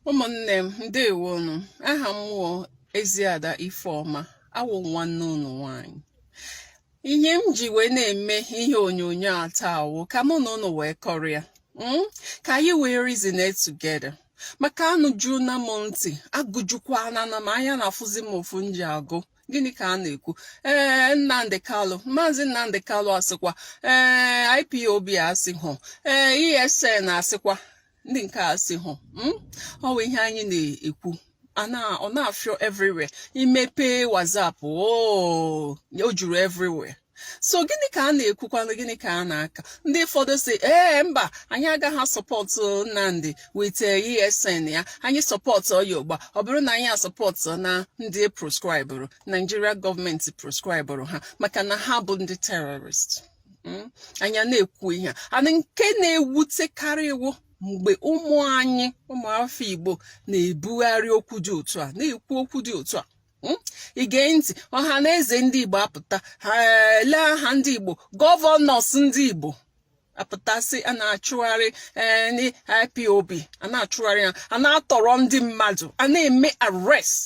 ụmụnne m ndewonu aha m wụ Eziada Ifeọma awụ nwanne unu nwanyị ihe m ji wee na-eme ihe onyonyo a taa wụ ka mụ na unu wee kọrịa hmm? ka anyị wee reason it together maka anụjuna m ntị agụjukwana m anya na-afụzi m ụfụ m ji agụ gịnị ka a na-ekwu ee Nnamdi Kanu maazị Nnamdi Kanu asịkwa ee IPOB asị hụ ee ESN asịkwa ndị nke a sị hụ hmm? ọ bụ ihe anyị na-ekwu ọ na-afịọ everywhere i mepe WhatsApp oh, o juru everywhere so gịnị ka a na-ekwukwanụ gịnị ka a na-aka ndị ụfọdụ sị ee mba anyị agaghị asọpọtụ Nnamdi with ESN ya anyị sọpọtụọ ya ugbua ọ bụrụ na anyị asọpọtụna ndị proscribụrụ Nigeria gọọmenti proscribụrụ ha maka na ha bụ ndị terọrist hmm? anyị na-ekwu ihe a nke na-ewutekarị m wụ mgbe ụmụ anyị ụmụafọ Igbo na-ebugharị okwu dị otu a na-ekwu okwu dị otu a Hmm? i gee ntị Ọhanaeze Ndị Igbo apụta ha ele aha ndị Igbo gọvanọs ndị Igbo apụtasị a na-achụgharị eh, IPOB a na-achụgharị ha a na-atọrọ ndị mmadụ a na-eme arrest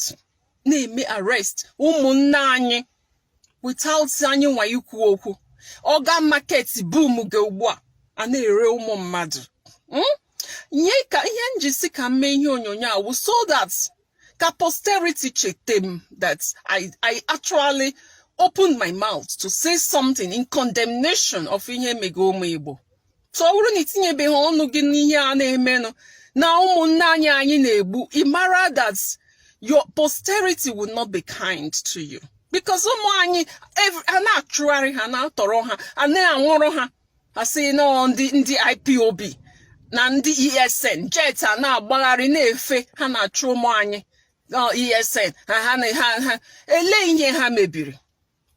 na-eme arrest ụmụnne anyị without anyịnwa ikwu okwu organ market boom ga ugbu a a na-ere ụmụ mmadụ hmm? nye ka ihe m ji sị ka m mee ihe onyonyo a wụ so that ka posterity chete m that I, I actually opened my mouth to say something in condemnation of ihe mega ụmụ Igbo so ọ bụrụ na i tinyebeghị ọnụ gị n'ihe a na-emenụ na ụmụnne anyị anyị na-egbu ị mara that your posterity will not be kind to you because ụmụ anyị a na-achụgharị ha na-atọrọ ha a na-anwụrụ ha a sị na ndị ndị IPOB na ndị ESN jet a na-agbagharị na-efe ha na-achụ ụmụ anyị ESN ha ha ha ele ihe ha mebiri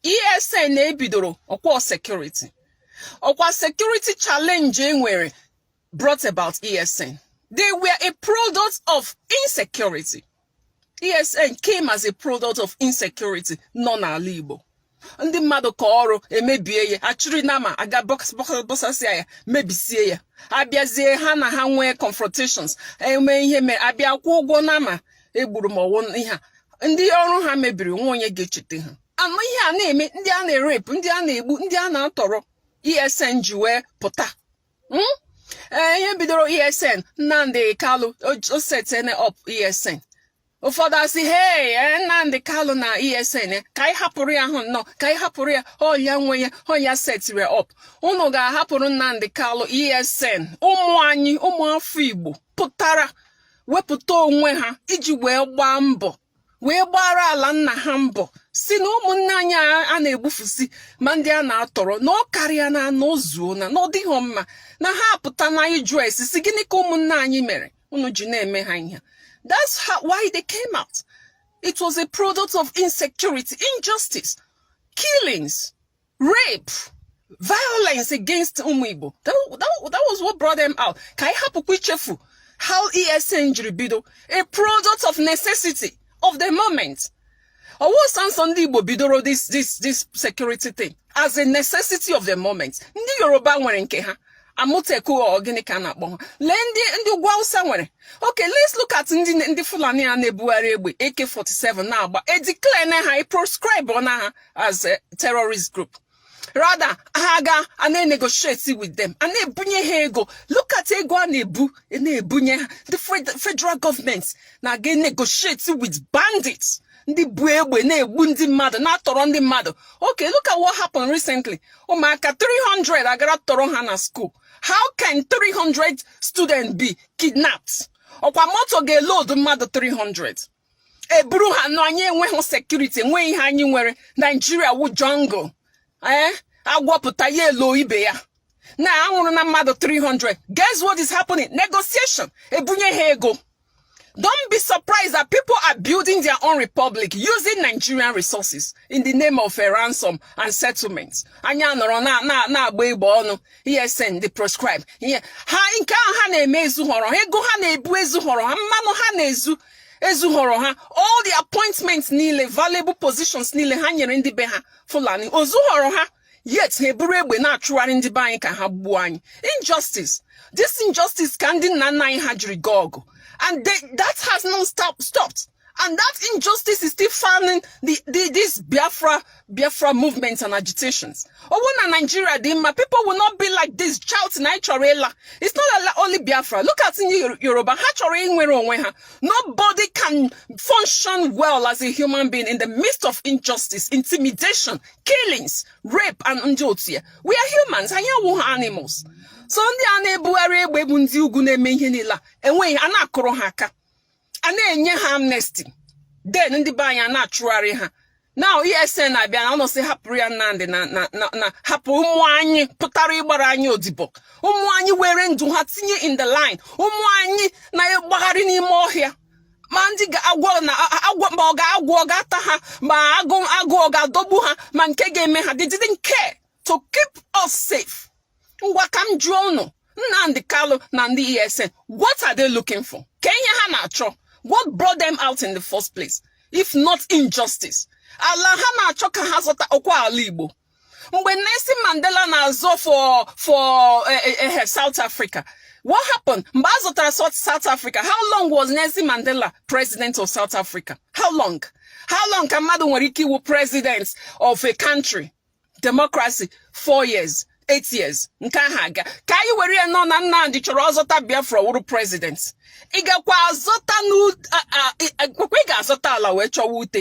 ESN a e bidoro ọkwa security ọkwa security challenge e nwere brought about ESN they were a product of insecurity ESN came as a product of insecurity nọ n'ala Igbo ndị mmadụ kọọ ọrụ e mebie ya a chịrị nama aga bọsasịa ya mebisie ya a bịazie ha na ha nwee confrontations e mee ihe e mere a bịa kwụọ ụgwọ nama egburu ma ọwụ ihe a ndị ọrụ ha mebiri nwa onye ga-echeta ha anụ ihe a na-eme ndị a na-erape ndị a na-egbu ndị a na-atọrọ esn ji wee pụta hmm? ee ihe bidoro esn nnamdị kalụ o setene up esn ụfọdụ asị hei eh, nnamdị kalụ na esn eh, ka anyị hapụrụ ya ahụ nnọọ ka anyị hapụrụ ya ọ ya nwe ya ọ ya setiri up unu ga-ahapụrụ nnamdị kalụ esn ụmụ anyị ụmụ afọ igbo pụtara wepụta onwe ha iji wee gbaa mbọ wee gbara ala nna ha mbọ sị na ụmụnne anyị a na-egbufusi ma ndị a na-atọrọ na ọ karịana na o zuona na ọ dịghị mma na ha apụtana ịjụ ese sị gịnị ka ụmụnne anyị mere unu ji na-eme ha ihe that's how, why they came out it was a product of insecurity injustice killings rape violence against ụmụ Igbo that, that, that was what brought them out ka anyị hapụkwa ichefu how ESN jiri bido a product of necessity of the moment ọwụ sọọsọ ndị Igbo bidoro this this this security thing as a necessity of the moment ndị Yoruba nwere nke ha Amotekun gịnị ka a na-akpọ ha lee ndị ndị ugwu awụsa nwere okay let's look at ndị ndị fulani a na-ebugharị egbe ak-47 na-agba edeclare na ha proscribe na ha as a terrorist group rather ha ga a na-enegotiate with them a na-ebunye ha ego look at ego a na-ebu a na-ebunye ha the federal government na-aga enegotiate with bandits ndị bu egbe na-egbu ndị mmadụ na-atọrọ ndị mmadụ okay look at what happened recently ụmụaka 300 a gara tọrọ ha na school how can 300 students be kidnapped ọkwa moto ga-eload mmadụ 300 eburu ha no anyị enweghị security enweghị ihe anyị nwere Nigeria wu jungle ee eh? agwọ pụta ya elo ibe ya na anwụrụ na mmadụ 300 guess what is happening negotiation ebunye ha ego Don't be surprised that people are building their own republic using Nigerian resources in the name of a ransom and settlement. Anyị anọrọ na na na agba egbe ọnụ ESN they proscribe. Ihe ha nke ahụ ha na-eme ezughọrọ ha ego ha na-ebu ezughọrọ ha mmanụ ha na-ezu ezughọrọ ha all the appointments niile valuable positions niile ha nyere ndị be ha Fulani o zughọrọ ha yet ha eburu egbe na-achụgharị ndị be anyị ka ha gbuo anyị injustice this injustice ka ndị nna nna anyị ha jiri gaa ọgụ and they, that has not stopped and that injustice is still fanning the, the, this Biafra Biafra movements and agitations. Ọwụ na Nigeria dị mma, people will not be like this shouting na anyị chọrọ ịla. It's not only Biafra. Look at ndị Yoruba ha chọrọ inwere onwe ha. Nobody can function well as a human being in the midst of injustice, intimidation, killings, rape, and ndị otu ya. We are humans, anyị awụghị animals. So ndị a na-ebugharị egbe bụ ndị ugwu na-eme ihe niile a enweghị a na-akụrụ ha aka a na-enye ha amnesty then ndị be anyị na-achụgharị ha na ESN na-abịa na unu sị hapụrụ ya Nnamdi na hapụ ụmụ anyị pụtara ịgbara anyị odibo ụmụ anyị were ndụ ha tinye in the line ụmụ anyị na-agbagharị n'ime ọhịa ma ndị agwọ na agwọ ma ọ ga agwọ ọ ga-ata ha ma agụ agụ ọ ga-adọgbu ha ma nke ga-eme ha they didn't care to keep us safe ngwa ka m jụọ unu Nnamdi Kalu na ndị ESN what are they looking for kee ihe ha na-achọ what brought them out in the first place if not injustice ala ha na-achọ ka ha zọta ọ kwa ala Igbo mgbe Nelson Mandela na-azọ for for eh, eh, eh, South Africa what happened mgbe a zọtara South Africa how long was Nelson Mandela president of South Africa how long how long ka mmadụ nwere ike ịwụ president of a country democracy four years eight years nke ahụ agaa ka anyị were ya nụ na Nnamdi chọrọ ịzọta Biafra wụrụ president ị gakwa azọta n'ekwekwe ị ga-azọta ala wee chọwa ute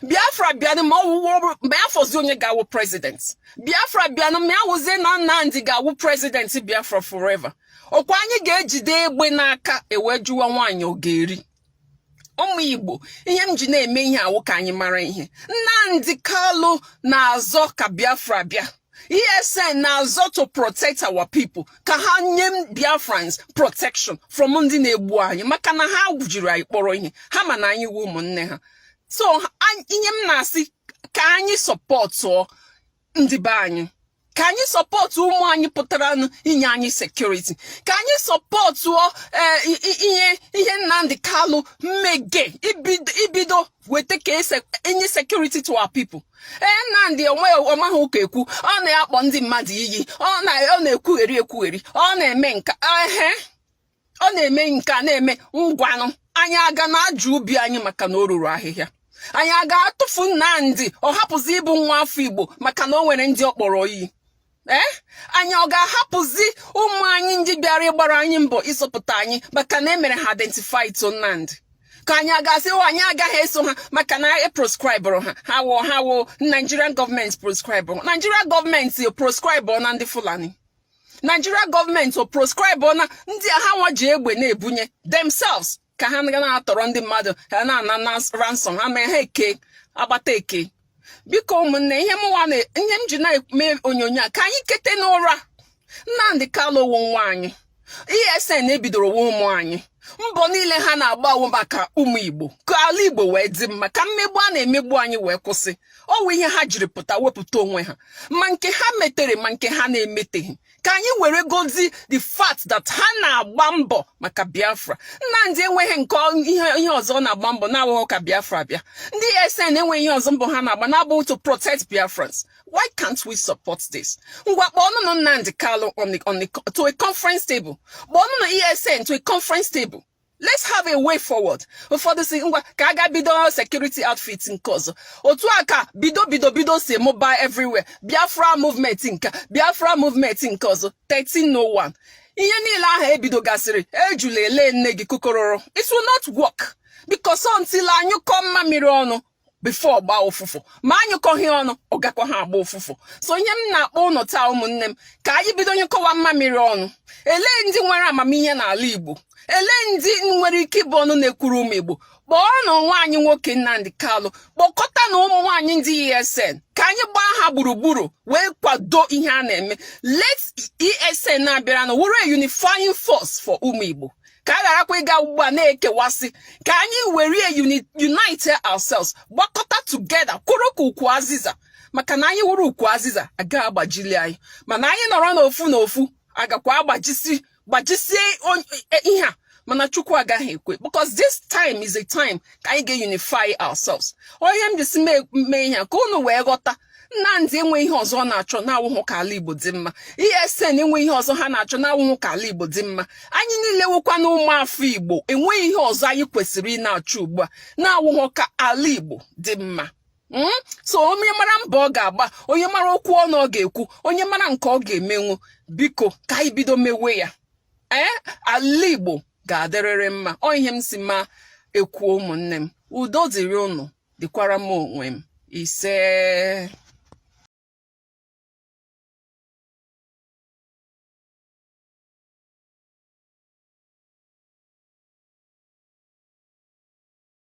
Biafra bịanụ ma ọ wụrụ ma ya fọzi onye ga-awụ president Biafra bịanụ ma ya wụzie na Nnamdi ga-awụ president Biafra forever ọ kwa anyị ga-ejide egbe n'aka e wee jụwa nwaanyị ọ ga-eri ụmụ Igbo ihe m ji na-eme ihe a wụ ka anyị mara ihe Nnamdi Kalu na-azọ ka Biafra bịa ESN na-azọ to protect our people ka ha nye Biafrans protection from ndị na-egbu anyị maka na ha jiri anyị kpọrọ ihe ha ma na anyị wụ ụmụnne ha so ihe m na-asị ka anyị sọpọtụọ ndị be anyị ka anyị sọpọtụ ụmụ anyị pụtaranụ inye anyị sekuriti ka anyị sọpọtụọ e, ihe ihe Nnamdi Kalu mege ibido weta ka e nye sekuriti to our people ee eh, Nnamdi onwe ọ maghị ụka ekwu ọ na-akpọ ndị mmadụ iyi ọ na-ekwugheri ekwugheri ọ na-eme nke a ehe ọ na-eme nke a na-eme ngwanụ anyị a ga na-ajụ ubi anyị maka na o ruru ahịhịa anyị a ga-atụfu Nnamdi ọ hapụzi ịbụ nwa afọ Igbo maka na o nwere ndị ọ kpọrọ iyi ee eh? anyị ọ ga-ahapụzi ụmụ anyị ndị bịara ịgbara anyị mbọ ịzọpụta anyị maka na e mere ha identify to Nnamdi ka anyị a ga-asị oh, anyị agaghị eso ha maka na e proscribụrụ ha ha wụ ha wụ Nigerian gọọmenti proscribụrụ Nigerian gọọmenti proscribụrụ na ndị Fulani Nigeria gọọmenti o proscribe na ndị a ha nwa ji egbe na-ebunye themselves ka ha ga na-atọrọ ndị mmadụ ha na-ana na ransom ha mee ha eke agbata eke biko ụmụnne ihe m ji na-eme onyonyo a ka anyị kete n'ụra Nnamdi Kanu wụ nwa anyị ESN e bidoro wụ ụmụ anyị mbọ niile ha na-agba wụ maka ụmụ Igbo ka ala Igbo wee dị mma ka mmegbu a na-emegbu anyị wee kwụsị ọ wụ ihe ha jiri pụta wepụta onwe ha ma nke ha metere ma nke ha na-emeteghị ka anyị weregodi the fact that ha na-agba mbọ maka Biafra Nnamdi enweghị nke ihe ọzọ ọ na-agba mbọ na-awụghọ ka Biafra bịa ndị ESN enweghị ihe ọzọ mbọ ha na-agba na-abụ to protect Biafrans Why can't we support this? Ngwa kpọọnụ nụ Nnamdi Kanu on the on the to a conference table. Kpọọnụ nụ ESN to a conference table. Let's have a way forward. Ụfọdụ sị ngwa ka a ga bido security outfit nke ọzọ. Otu a ka bido bido bido si mụba everywhere. Biafra movement nke Biafra movement nke ọzọ 1301. Ihe niile ahụ e bidogasịrị ejula ele nne gị kukororo. It will not work because until a nyụkọọ mmamịrị ọnụ before ọ gbaa ụfụfụ ma a nyụkọghị ọnụ ọ gakwaha agba ụfụfụ so ihe m na-akpọ ụnụ taa ụmụnne m ka anyị bido nyụkọwa mmamịrị ọnụ elee ndị nwere amamihe n'ala Igbo elee ndị nwere ike ịbụ ọnụ na-ekwuru ụmụ Igbo kpọọnụ nwa anyị nwoke Nnamdi Kanu kpọkọtanụ ụmụnne anyị ndị ESN ka anyị gbaa ha gburugburu wee kwado ihe a na-eme let ESN a bịaranụ wụrụ a unifying force for ụmụ Igbo ka a gharakwa ịga ugbu a na-ekewasị ka anyị were unite ourselves gbakọta together kwụrụ ka ukwu azịza maka na anyị wụrụ ukwu azịza aga agbajili anyị mana anyị nọrọ n'ofu n'ofu a gakwa agbajisi gbajisie e, ihe a mana chukwu agaghị ekwe because this time is a time ka anyị ga-unify ourselves ọ ihe m ji sị mee ihe a ka unu wee ghọta Nnamdi enwe ihe ọzọ ọ na-achọ na-awụhụ ka ala Igbo dị mma ESN enwe ihe ọzọ ha na-achọ na-awụhụ ka ala Igbo dị mma anyị niile wụkwa na ụmụafọ Igbo enweghị ihe ọzọ anyị kwesịrị ị na-achọ ugbu a na-awụhụ ka ala Igbo dị mma Hmm? so onye mara mbọ ọ ga-agba onye mara okwu ọnụ ọ ga-ekwu onye mara nke ọ ga-emenwu biko ka anyị bido mewe ya ee eh? ala Igbo ga-adịrịrị mma ọ ihe m sị ma ekwuo ụmụnne m udo dịrị ụnụ dịkwara m onwe m isee